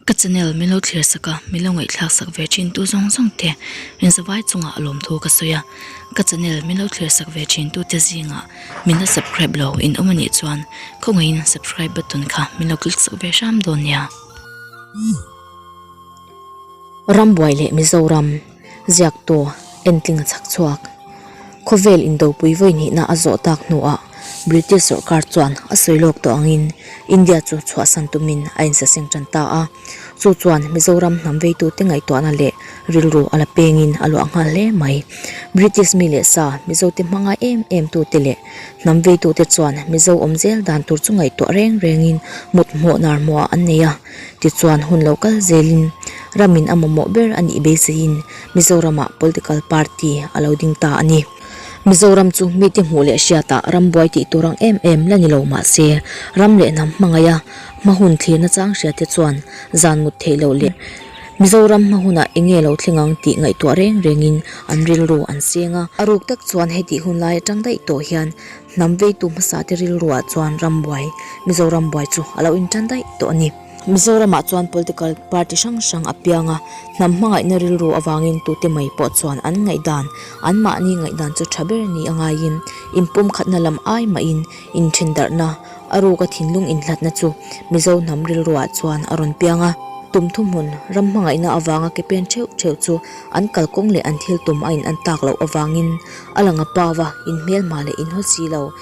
Ka channel min lo thlir sak a, min lo ngaihthlak sak ve thin tu zawng zawng te zawai chungah a lawmthu ka sawi a, ka channel min lo thlir sak ve thin tu te zinga min la subcribe lo in awm a nih chuan khawngaihin subcribe button kha min lo click sak ve hram dawn nia. Rambuai leh Mizoram. Ziak tawh, entling a chhak chhuak. Khawvel indopui vawi nihna a zawh tak hnuah British sorkar chuan a sawi lawk tawh angin India chu chhuahsan tumin a insaseng tan ta a. Chu chuan Mizoram hnamveitute ngaihtuahna leh rilru a la pengin a luah nghal hle mai. British mi leh sa Mizote hmangaih em em tute leh hnamveitute chuan Mizo awmzel dan tur chu ngaihtuah reng rengin mutmawh narhmawha an nei a. tichuan hun lo kal zelin ramin a mamawh ber a nih beiseiin Mizoramah political party a lo ding ta a ni. Mizoram chu mite hmuh leh hriatah ram buai tih tur ang em em la ni lo mahse, ram leh hnam hmangaia hma hun thlirna chang hriate chuan zan mut theih loh leh Mizoram hma hunah eng nge lo thleng ang tih ngaihtuah reng rengin an rilru an seng a. A ruk tak chuan heti hun lai atang daih tawh hian Hnam veitu hmasate rilruah chuan rambuai, Mizo rambuai chu a lo inṭan daih tawh a ni. Mizoramah chuan political party hrang hrang a piang a, hnam hmangaihna rilru avangin tute mai pawh chuan an ngaihdan. Anmahni ngaihdan chu ṭha ber ni a ngaiin, inpawmkhatna lam ai mahin inthindarhna, a ruka thinlung inhlatna chu Mizo hnam rilruah chuan a rawn piang a. Tum thuhmun, ram hmangaihna avanga ke pen ṭheuh ṭheuh chu an kalkawng leh an thil tum a in an tak loh avangin, A lang a pau a, in hmelma leh in haw si lo,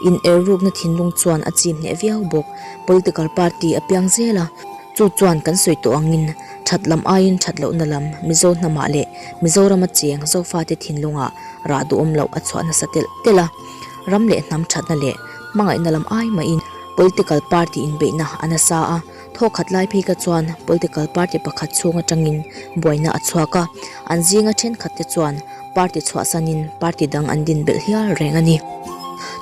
in er rukna thinlung chuan a chim hneh viau bawk. Political party a piang zel a, chu chuan kan sawi tawh ang in, that lam aiin that lohna lam, Mizo hnamah leh Mizoram acheng Zofa te thinlungah rah duhawm loh a chhuah nasa telh telh a, ram leh hnam thatna leh hmangaihna lam ai mahin political party inbeihna a nasa a. Thawk khat lai phika chuan political party pakhat chhung atangin buaina a chhuak a, an zinga thenkhat te chuan party chhuahsanin party dang an din belh hial reng a ni.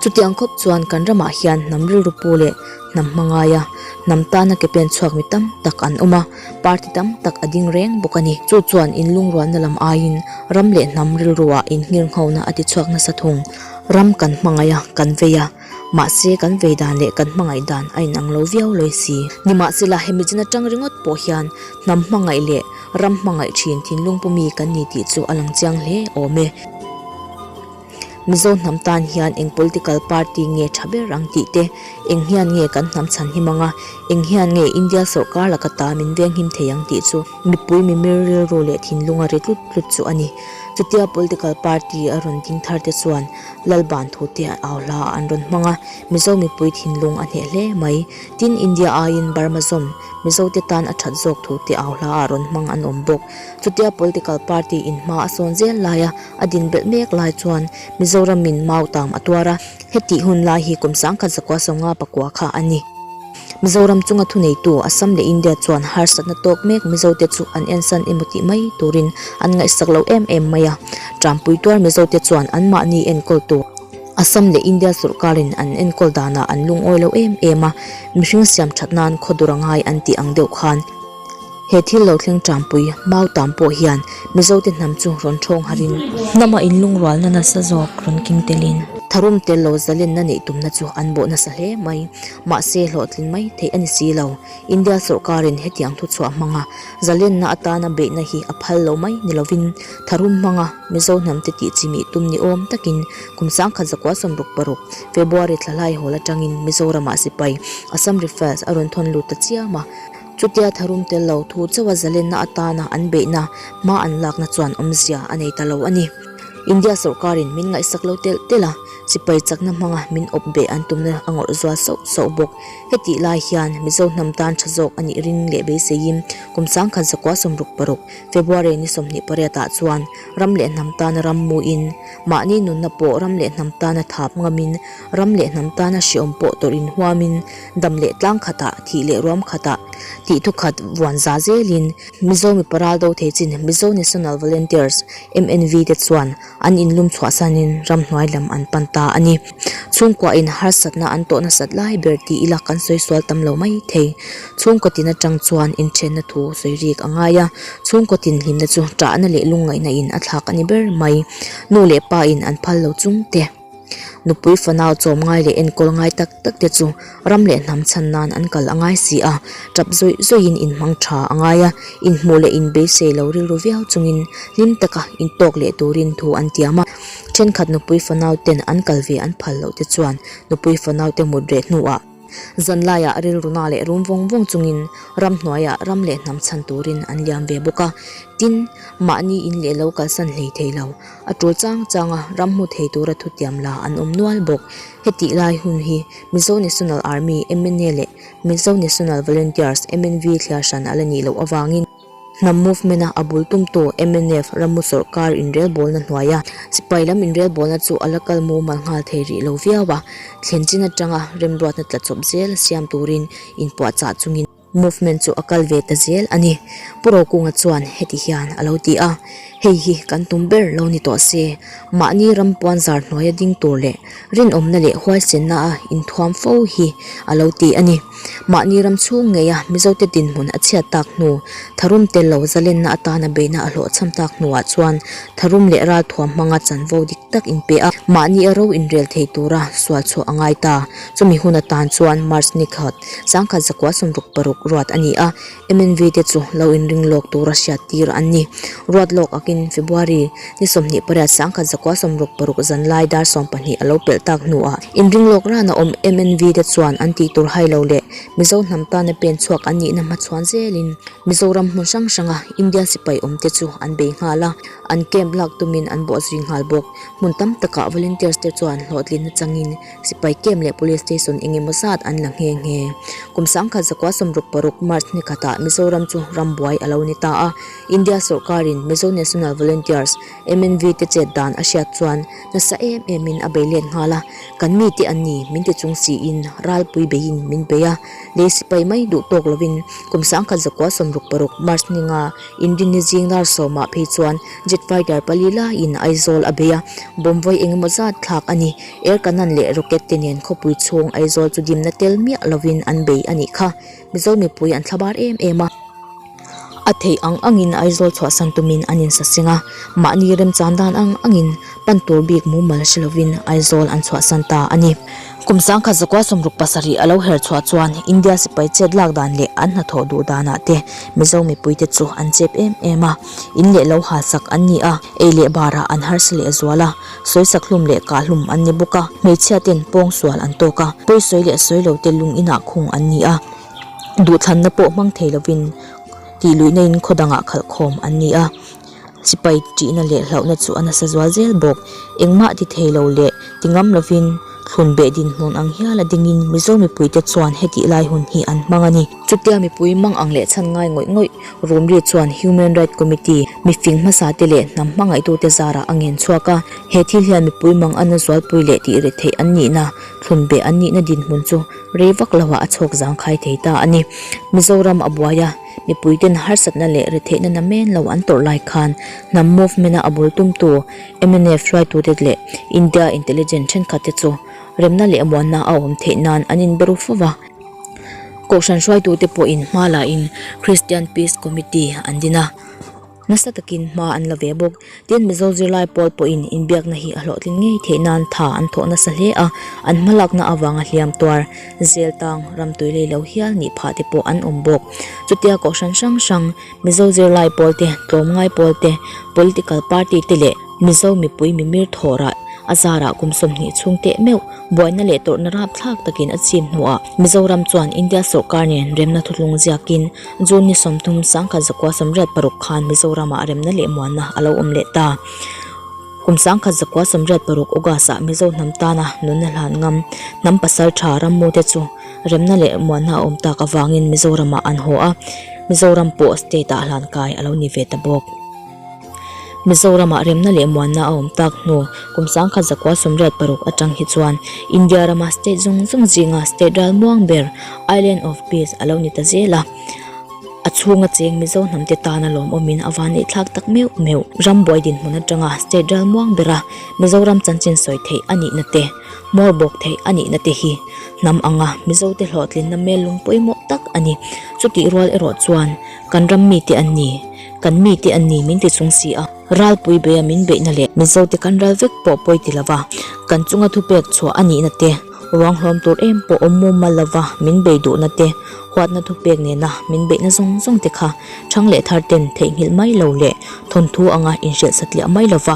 Chutiang khawp chuan kan ramah hian hnam rilru pu leh hnam hmangaia hnam tana ke pen chhuak mi tam tak an awm a, party tam tak a ding reng bawk a ni. Chu chuan in lungrualna lam aiin ram leh hnam rilrua in ngirnghawhna a ti chhuak nasa thung ram kan hmangaia kan vei a, Mahse, kan vei dan leh kan hmangaih dan a inang lo viau lo i si. Nimahsela, hemi chin atang ringawt pawh hian hnam hmangaih leh ram hmangaih thin thinlung pu mi kan ni tih chu a lang chiang hle awm e. Mizo hnam tan hian eng political party nge tha ber ang tih te, eng hian nge kan hnam chhan him ang a, eng hian nge India sorkar laka ta min veng him thei ang tih chu mipui mimir rilru leh thinlunga ri tlut tlut chu a ni. Chutia political party a rawn ding thar te chuan Lalban thu te an au hla a an rawn hmang a, Mizo mipui thinlung a hneh hle mai. Tin, India aiin Burma zawm Mizo te tan a that zawk thu te au hla a rawn hmang an awm bawk. Chutia political party in hma a sawn zel laia a din belh mek lai chuan Mizoramin mau tam a tuar a, heti hun lai hi kum sangkhat zakua sawnga pakua kha a ni. Mizoram chunga thuneitu Assam leh India chuan harsatna tawk mek Mizote chu an en san emaw tih mai turin an ngaihsak loh em em mai a. Ṭanpui tuar Mizote chuan anmahni enkawl tur Assam leh India sorkarin an enkawl danah an lungawi lo em em a, mihring siam ṭhat nan khaw dur a ngai an tih ang deuh khan. He thil lo thleng ṭangpui mau tan pawh hian Mizote hnam chu rawn ṭhawng harin. Hnama in lungrualna nasa zawk rawn keng telin. Tharum tel lo zalenna neih tumna chu an bawh nasa hle mai. Mahse, hlawhtling mai theih a ni si lo. India sorkarin hetiang thuchhuah hmanga zalenna atana beihna hi a phal lo mai ni lovin, tharum hmanga Mizo hnamte tih chimih tum ni awm takin kum sangkhat zakua sawmruk paruk, February thla hlai hawl aṭangin Mizoramah sipai, Assam Rifles, a rawn thawn lut ta chiam a. Chutia tharum tel lo thu chauha zalenna atana an beihna hma an lakna chuan awmzia a nei ta lo a ni. India sorkarin min ngaihsak lo telh telh a, sipai chakna hmanga min awp beh an tumna a ngawrh zual sauh sauh bawk. Heti lai hian Mizo hnam tan tha zawk a nih ring leh beiseiin kum sangkhat zakua sawmruk paruk, February ni sawmhnih pariat ah chuan ram leh hnam tana ram muin, mahni nunna pawh ram leh hnam tana thap ngamin, ram leh hnam tana hreawm pawh tawrh inhuamin, dam leh tlang khatah, thih leh ruam khatah, tih thu khat vuan za zelin Mizo Mipa Ral Do Thei Chin, Mizo National Volunteers, MNV, te chuan an inlum chhuah sanin ramhnuai lam an pan ta a ni. Chhungkuahin harsatna an tawh nasat lai ber tih ila kan sawi sual tam lo mai thei. Chhungkawtin atang chuan inthenna thu sawi rik a ngai a, chhungkawtin hlimna chu chahna leh lungngaihna in a thlak a ni ber mai. Nu leh pa in an phal lo chungte. Nupui fanau chawm ngai leh enkawl ngai tak tak te chu ram leh hnam chhan nan an kal a ngai si a, tap zawih zawih in inhmang tha a ngai a, inhmuh leh inbeihsei lo rilru viau chungin hlim taka in tawk leh turin thu an tiam a. Thenkhat nupui fanau ten an kal ve an phal loh te chuan nupui fanau te mut reh hnuah. Zanlaiah rilruna leh rum vawng vawng chungin ram hnuaiah ram leh hnam chhan turin an liam ve bawk a. Tin, mahni in leh lo kalsan hlei thei lo. A tul chang chang a, ram hmu thei tura thutiam la an awm nual bawk. Heti lai hun hi Mizo National Army, MNA, leh Mizo National Volunteers, MNV, thliar hran a la nih loh avangin, Hnam movement-a a bul tum tawh mnf ram u sawrkar inrelbawlna hnuai a sipai lam inrelbawlna chu a la kal mumal nghal thei rih lo viau a, thlenchin atanga remruatna tla chawp zel a siam turin inpuahchah chungin movement chu a kal ve ta zel a ni. Puro Kunga chuan heti hian a lo ti a, Hei hi kan tum ber lo ni tawh se, mahni ram puanzar hnuaia ding tur leh rinawmna leh huaisenna a inthuam fo hi a lo ti a ni. Mahni ram chhung ngeia Mizote dinhmun a chhiat tak hnu, tharum tel lo zalenna atana beina a hlawh cham tak hnuah chuan tharum leh ral thuam hmanga chanvo dik tak in pe a, mahni a ro inrel thei tura sual chhuah a ngai ta. Chumi hun atan chuan March ni khat, changkhat zakua sumruk paruk ruat a ni a, MNV te chu lo inring lawk tura hriat tir an ni. Ruat lawk akin February ni sawmhnih pariat sangkhat zakua sawmruk paruk zanlai dar sawm pahnih a lo pelh tak hnuah inring lawk ran a awm MNV te chuan an tih tur hailo leh Mizo hnam tana pen chhuak an nihna hma chhuan zelin Mizoram hmun hrang hranga Indian sipai awmte chu an bei nghal a, an camp lak tumin an bawhzui nghal bawk. Hmun tam takah volunteers te chuan hlawhtlinna changin Sipai camp leh police station engemaw zat an la nghe nghe. Kum sangkhat zakua sawmruk paruk March ni khatah Mizoram chu rambuai a lo ni ta a. India sorkarin Mizo National Volunteers, MNV, te chet dan a hriat chuan nasa em em in a bei let nghal a. Kan mi te an ni min ti chung siin ralpui beiin min bei a. Lei sipai mai duh tawk lovin kum sangkhat zakua sawmruk paruk March ni nga Indin ni zing lar sawmah phei chuan jet fighter pali laiin Aizawl a bei a. Bomb vawi engemaw zat thlak a ni. Erkanan leh Rocket te nen khawpui chhung Aizawl chu dimna tel miah lovin an bei a nih kha. Mizo mipui an thla bar em em a. A theih ang angin Aizawl chhuahsan tumin an insa seng a. Mahni remchang dan ang angin pan tur bik mumal hre lovin Aizawl an chhuahsan ta a ni. Kum sangkhat zakua sawmruk pasarih a lo her chhuah chuan India sipai chet lak dan leh an hnathawh duh danah te Mizo mipui te chu an chep em em a. In leh lo halsak an ni a, ei leh barah an harsa lehzual a. Sawisak hlum leh kah hlum an ni bawk a, hmeichhia ten pawng sual an tawk a, pawisawi leh sawilo te lung inah khung an ni a, duhthlanna pawh hmang thei lovin tih luihna in khaw dangah khalh khawm an ni a, sipai ṭihna leh hlauhna chu a nasa zual zel bawk, engmah ti thei lo leh ti ngam lovin thlun beh dinhmun ang hial a dingin Mizo mipui te chuan hetihlai hun hi an hmang a ni. Chutia mipui mang ang leh chhan ngai ngawih ngawih Rumri chuan Human Right Committee, mifing hmasate leh hnam hmangaitute zarah a ngen chhuak a, he thil hian mipui mang an la zualpui leh tih ri theih an nihna, thlun beh an nihna dinhmun chu rei vak lohah a chhawk zang khai thei ta a ni. Mizoram a buai a, mipuite'n harsatna leh ri theihna na men lo an tawrh lai khan hnam movement-a a bul tumtu MNF hruaitute leh India intelligent thenkhatte chu remna leh muanna a awm theih nan an inber u fo va, Kohhran hruaitute pawhin hma lahin Christian Peace Committee an din a, nasa takin hma an la ve bawk. Tin, Mizo zirlai pawl pawhin inbiakna hi a hlawhtling ngei theih nan tha an thawh nasa hle a, an hma lakna avanga hliam tuar, zel tang, ramtuilei lo hial nih phah te pawh an awm bawk. Chutia Kohhran hrang hrang, Mizo zirlai pawl te, tlawm ngai pawl te, political party te leh Mizo mipui mimir thawra a zarah kum sawmhnih chhung teh meuh buaina leh tawrhna rap thlak takin a chim hnuah Mizoram chuan India sorkar nen remna thutlung ziakin June ni sawm thum sangkhat zakua sawmriat paruk khan Mizoramah remna leh muanna a lo awm leh ta. Kum sangkhat zakua sawmriat paruk August ah Mizo hnam tana nunna hlan ngam hnam pasal tha rammute chu remna leh muanna a awm tak avangin Mizoram ah an haw a, Mizoram pawh state ah hlan kai a lo ni ve ta bawk. Mizoram ah remna leh muanna a awm tak hnu kum sangkhat zakua sumriat paruk atang hi chuan India rama state zawng zawng zinga state ral muang ber, island of peace, a lo ni ta zel a. A chhunga cheng Mizo hnam te tana lawm awmin a van eihthlak tak meuh meuh. Ram buai dinhmun atanga state ral muang bera Mizoram chanchin sawi theih a nihna te. Mawr bawk theih a nihna te hi hnam anga Mizote hlawhtlinna hmel lungpui mawh tak a ni. Chutih rual erawh chuan kan ram mite an ni, kan mite an ni min ti chung si a, ralpui beia min beihna leh. Mizote kan ral vek pawh pawi ti lova, kan chunga thupek chhuah a nihna te, ruanghlawm tur em pawh awm mum mal lova min bei duhna te, huatna thupek nena min beihna zawng zawng te kha chhang leh tharten theihnghilh mai lo leh thawnthu anga inhriat satliah mai lova,